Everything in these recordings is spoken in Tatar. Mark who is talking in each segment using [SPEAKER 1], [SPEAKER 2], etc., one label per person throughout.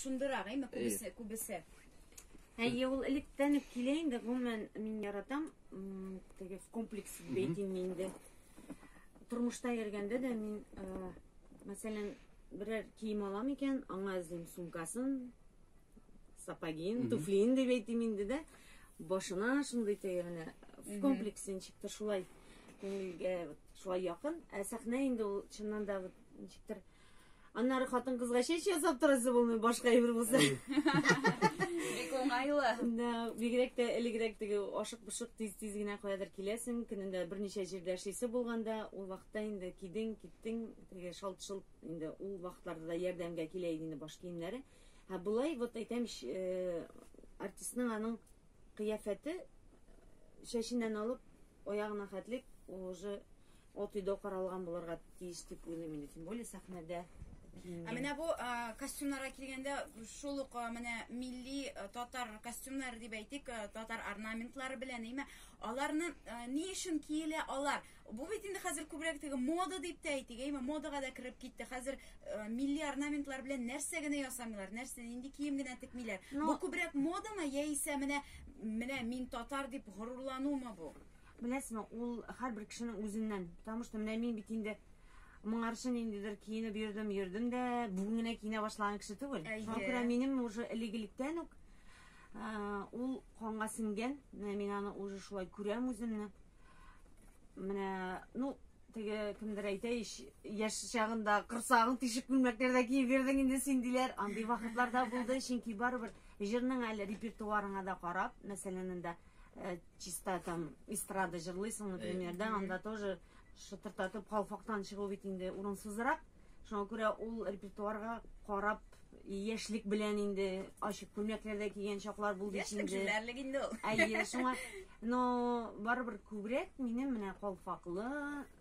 [SPEAKER 1] Шундырак, әйме, күбесе, күбесе. Әйе,
[SPEAKER 2] ул электән үк килә инде, гомумән, мин яратам, теге комплекс бейтинг инде. Тормышта йөргәндә дә мин, мәсәлән, берәр кием алам икән, аңа эзлим сумкасын, сапогин, туфлин дип әйтим инде дә. Башына шундый теге менә в комплексе ничектер шулай күңелгә шулай якын. Ә сәхнә инде ул чыннан да ничектер Аннары хатын-кызга чәч ясап торасы булмый, башка әйбер булса.
[SPEAKER 1] Бик уңайлы. Да, бигрәк
[SPEAKER 2] тә элегрәк теге ашык-пошык тиз-тиз генә каядыр киләсең, көнендә берничә җирдә эшлисе булганда, ул вакытта инде кидең, киттең, теге шалт-шолт инде ул вакытларда да ярдәмгә килә иде инде баш киемнәре. Һә болай вот әйтәм, э, артистның аның кыяфәте чәченнән алып аягына хәтлек уже Ат өйдә каралган булырга тиеш дип уйлыйм инде, тем более сәхнәдә киенгән. Ә менә бу
[SPEAKER 1] костюмнарга килгәндә, шул ук менә милли татар костюмнары дип әйтик, татар орнаментлары белән, әйме, аларны ни өчен киелә алар? Бу бит инде хәзер күбрәк теге мода дип тә әйтик, әйме, модага да кереп китте. Хәзер милли орнаментлар белән нәрсә генә ясамыйлар, нәрсә нинди кием генә текмиләр. Бу күбрәк модамы яисә менә менә мин татар дип горурланумы бу? Беләсезме, ул
[SPEAKER 2] һәрбер кешенең үзеннән. Потому что менә мин бит инде моңарчы ниндидер киенеп йөрдем, йөрдем дә, бүген генә киенә башлаган кеше түгел. Шуңа күрә минем уже элек-электән үк ул канга сеңгән. Менә мин аны уже шулай күрәм үземне. Менә, ну, теге кемдер әйтә ич, яшь чагында кырсагың тишеп күлмәкләрдә киеп йөрдең инде син диләр. Андый вакытлар да булды, чөнки барыбер җырның әле репертуарыңа да карап, мәсәлән, инде Э, чиста там эстрада җырлыйсың, например, да, анда тоже шытыртатып калфактан чыгу бит инде урынсызрак. Шуңа күрә ул репертуарга карап яшьлек белән инде ачык күлмәкләрдә кигән чаклар булды бит инде. Яшьлек инде ул.
[SPEAKER 1] Әйе, шуңа
[SPEAKER 2] но барыбер күбрәк минем менә калфаклы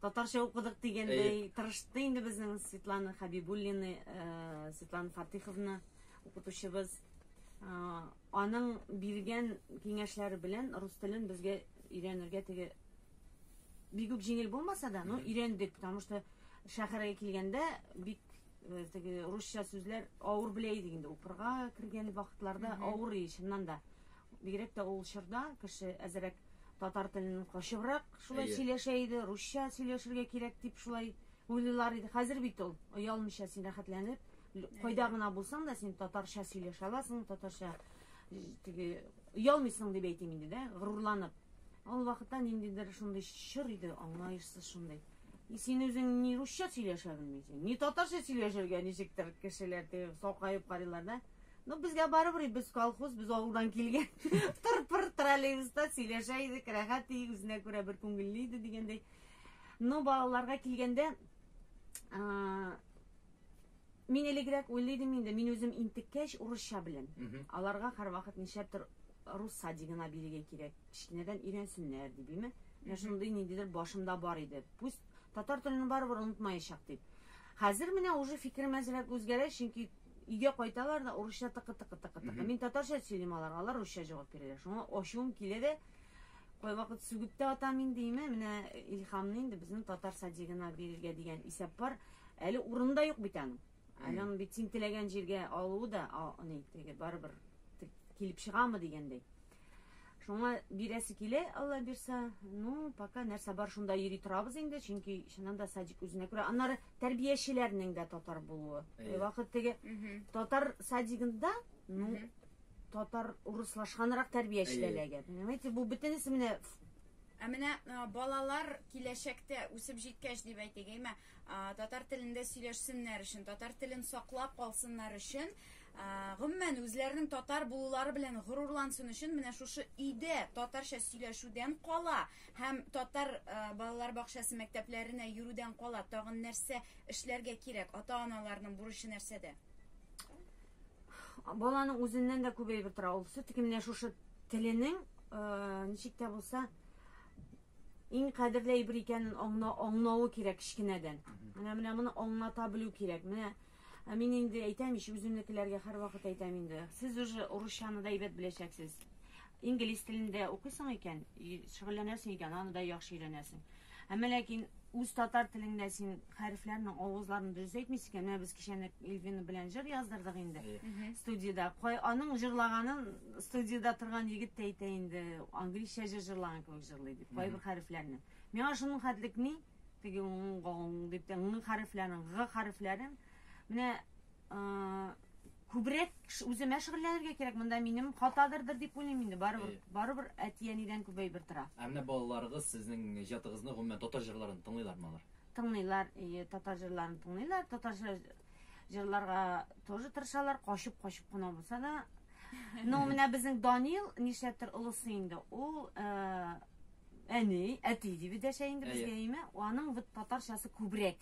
[SPEAKER 2] татарча укыдык дигәндәй тырышты инде безнең Светлана Хабибуллина, э, Светлана Фатиховна укытучыбыз. Э, аның биргән киңәшләре белән рус телен безгә өйрәнергә теге бик үк җиңел булмаса да, ну өйрәндек, потому что шәһәргә килгәндә бик э, теге русча сүзләр авыр белә идек инде укырга кергән вакытларда авыр и чыннан да. Бигрәк тә ул чорда кеше әзрәк Татар телен качыбрак шулай Әйе. сөйләшә иде, русча сөйләшергә кирәк дип шулай уйлыйлар иде. Хәзер бит ул оялмыйча син рәхәтләнеп, л- кайда гына булсаң да син татарча сөйләшә аласың, татарча э, теге оялмыйсың дип әйтим инде дә, горурланып. Ул вакытта ниндидер шундый чор иде, аңлаешсыз шундый. И син үзең ни русча сөйләшә белмисең, ни татарча сөйләшергә ничектер кешеләр теге сакаеп карыйлар да. Ну, безгә барыбер без колхоз, без авылдан килгән. Тыр-пыр троллейбуста сөйләшә идек, рәхәт иде, үзенә күрә бер күңелле иде дигәндәй. Ну, балаларга килгәндә, мин элегрәк уйлый идем инде, мин үзем интеккәч урысча беләм. Аларга һәрвакыт нишләптер рус садигына бирергә кирәк, кечкенәдән өйрәнсеннәр дип, име? Менә шундый ниндидер башымда бар иде. Пусть татар телен барыбер онытмаячак дип. Хәзер менә уже фикерем әзрәк үзгәрә, чөнки Өйгә кайталар да урысча тыкы-тыкы-тыкы-тыкы. Мин татарча сөйлим аларга, алар русча җавап бирәләр. Шуңа ачуым килә дә, кайвакыт сүгеп тә атам инде име, менә Илһамны инде безнең татар садигына бирергә дигән исәп бар. Әле урыны да юк бит аның. Әле аны бит син теләгән җиргә алуы да, а, ни, теге барыбер килеп чыгамы дигәндәй. Шуңа бирәсе килә, Алла бирсә. Ну, пока нәрсә бар шунда йөри торабыз инде, чөнки чыннан да садик үзенә күрә. Аннары тәрбиячеләрнең дә татар булуы. Э, вакыт теге татар садигында, ну, татар урыслашганрак тәрбиячеләләгә. Понимаете, бу бөтенесе менә Ә менә
[SPEAKER 1] балалар киләчәктә үсеп җиткәч дип әйтик, әйме, татар телендә сөйләшсеннәр өчен, татар телен саклап калсыннар өчен, Гомумән, үзләренең татар булулары белән горурлансын өчен менә шушы өйдә татарча сөйләшүдән кала һәм татар балалар бакчасы мәктәпләренә йөрүдән кала тагын нәрсә эшләргә кирәк? Ата-аналарның бурычы нәрсәдә?
[SPEAKER 2] Баланың үзеннән дә күп әйбер тора. Ул все-таки менә шушы теленең ничек тә булса иң кадерле әйбер икәнен аңлауы кирәк кечкенәдән. Менә менә моны аңлата белү кирәк. Менә Ә мин инде әйтәм ич, үземнекеләргә һәрвакыт әйтәм инде. Сез уже урысчаны да әйбәт беләчәксез. Инглиз телендә укыйсың икән, и, шөгыльләнәсең икән, аны да яхшы өйрәнәсең. Әмма ләкин үз татар телеңдә син хәрефләрнең авызларын дөрес әйтмисең икән. Менә без кичәне Эльвина белән җыр яздырдык инде Әйе. студиядә. Кай, аның җырлаганын студиядә торган егет тә әйтә инде, англизчә җыр җырлаган кебек җырлый дип, кайбер хәрефләрне. Миңа шуның хәтлек ни? Теге уң-уң-уң дип тә ң хәрефләрен, г хәрефләрен. Менә күбрәк үземә шөгыльләнергә кирәк. Монда минем хатадырдыр дип уйлыйм инде. Барыбер, барыбер әти-әнидән күбәй бер тора. Ә менә балаларыгыз
[SPEAKER 3] сезнең иҗатыгызны гомумән татар җырларын тыңлыйлармы алар? Тыңлыйлар, ие,
[SPEAKER 2] татар җырларын тыңлыйлар. Татар җырларга тоже тырышалар, качып-качып кына булса да. Ну, менә безнең Данил, нишләптер олысы инде, ул Әни, әти дип дәшә инде безгә, әйме? Аның вот татарчасы күбрәк.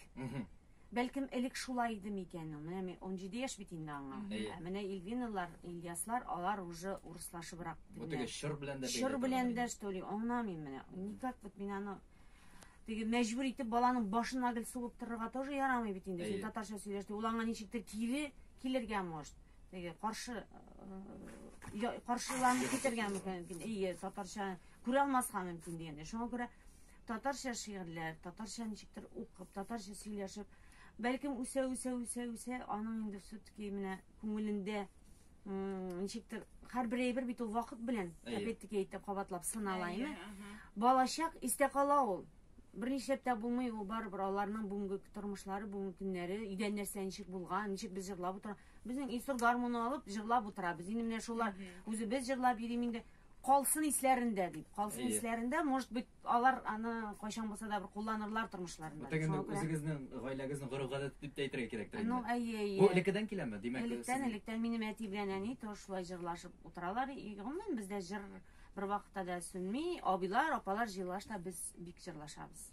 [SPEAKER 2] Бәлкем элек шулай иде микән ул? Менә 17 яшь бит инде аңа. Ә менә Ильвиналар, Ильяслар, алар уже урыслашыбрак. Бу теге чор белән
[SPEAKER 3] дә бәйле. Чор белән дә, что
[SPEAKER 2] ли, аңламыйм менә. Никак вот мин аны теге мәҗбүр итеп баланың башына гел сугып торырга тоже ярамый бит инде. Син татарча сөйләштең, ул аңа ничектер кире килергә может. теге каршы каршыланып китәргә мөмкин ие татарча күрә алмаска мөмкин дигәндә шуңа күрә татарча шигырьләр татарча ничектер укып татарча сөйләшеп бәлкем үсә үсә үсә үсә аның инде все таки менә күңелендә ничектер һәрбер әйбер бит ул вакыт белән опять таки әйтеп кабатлап сынала име балачак истә кала ул Бер нишләп тә булмый, ул барыбер аларның бүгенге тормышлары, бүгенге көннәре, өйдән нәрсә ничек булган, ничек без җырлап утыра. Безнең Илсур гармуны алып җырлап утырабыз. Инде менә шулар үзебез җырлап йөрим инде. Калсын исләрендә дип. Калсын Әйе. исләрендә, может быть, алар аны кайчан булса да бер кулланырлар тормышларында. Бүтән инде Шуңа күрә- үзегезнең
[SPEAKER 3] гаиләгезнең гореф-гадәте дип тә әйтергә кирәктер Ну, инде. әйе, әйе. Бу элеккедән
[SPEAKER 2] киләме? Димәк,
[SPEAKER 3] Электән, сез- электән минем әти
[SPEAKER 2] белән әни тоже шулай җырлашып утыралар. И, Гомумән бездә җыр бер вакытта да сүнми абыйлар апалар җырлашта без бик җырлашабыз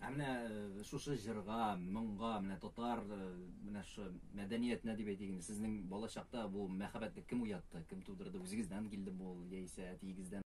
[SPEAKER 2] ә менә э,
[SPEAKER 3] шушы җырга моңга менә татар э, менә шу мәдәниятенә дип әйтик инде сезнең балачакта бу мәхәббәтне кем уятты кем тудырды үзегездән килде бу яисә әтиегездән